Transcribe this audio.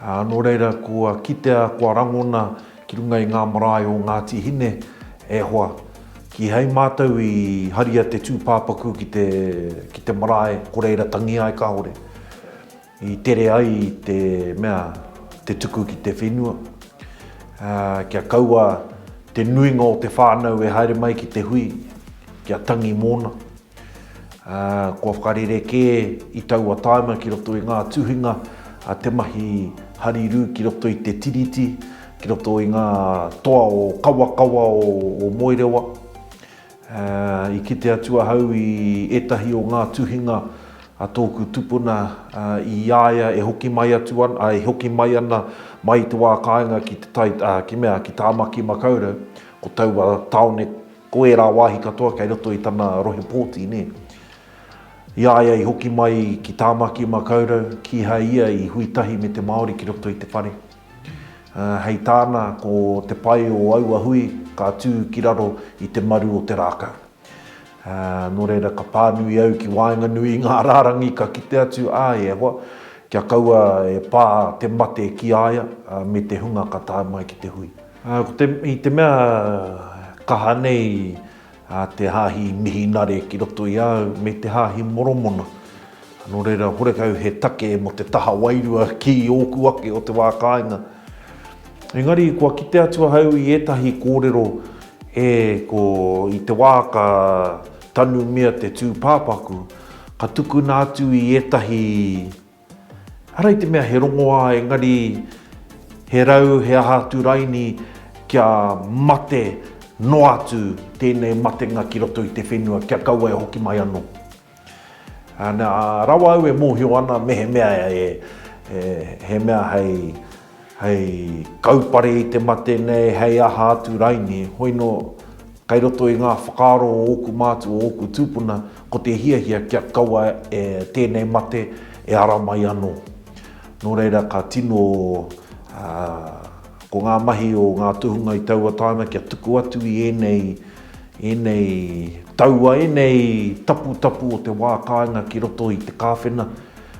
Ā, nō reira, kua kitea, kua rangona ki runga i ngā marae o Ngāti Hine, e hoa, kīhai mātou i haria te tūpāpaku ki te, ki te marae, ko reira tangi ai kāore, i tere ai te mea, te tuku ki te whenua, ā, kia kaua te nuinga o te whānau e haere mai ki te hui, kia tangi mōna. Kua whakarerekē i taua tāima ki roto i ngā tuhinga a te mahi harirū ki roto i te Tiriti, ki roto i ngā toa o Kawakawa o Moerewa. I kite atu ahau i ētahi o ngā tuhinga a tōku tupuna i a ia e hoki mai atu ana, e hoki mai ana mai i te wā kāinga ki Tāmaki Makaurau, ko taua tāone, Ko ērā wāhi katoa kei roto i tana rohe pōti, nē. I a ia i hoki mai ki Tāmaki Makaurau, kīhai ia i hui tahi me te Māori ki roto i te whare. Hei tāna, ko te pai o aua hui ka tū ki raro i te maru o te rākau. Nō reira, ka pānui au ki waenganui i ngā rārangi ka kite atu, ā, e hoa, kia kaua e pā te mate ki a ia me te hunga ka tae mai ki te hui. Ā, ko te, i te mea kaha nei ā te hāhi Mihinare ki roto i a au, me te hāhi Moromona, nō reira, horekau he take mō te taha wairua ki ōku ake o te wā kāinga. Engari, kua kite atu ahau i ētahi kōrero e ko, i te wā ka tanumia te tūpāpaku, ka tukuna atu i ētahi Arā i te mea he rongoā engari he rau he aha atu raini kia mate noa atu tēnei matenga ki roto i te whenua kia kaua e hoki mai anō. Nā, rawa au e mōhio ana mehemea he mea hei. Hei kaupare i te mate nei, hei aha atu rainī, hoino kei roto i ngā whakaaro o ōku mātua, o ōku tūpuna, ko te hiahia kia kaua e tēnei mate e ara mai anō. Nō reira ka tino, ko ngā mahi o ngā tohunga i taua tāna kia tuku atu i ēnei, ēnei taua, ēnei taputapu o te wā kāinga ki roto i te kāwhena,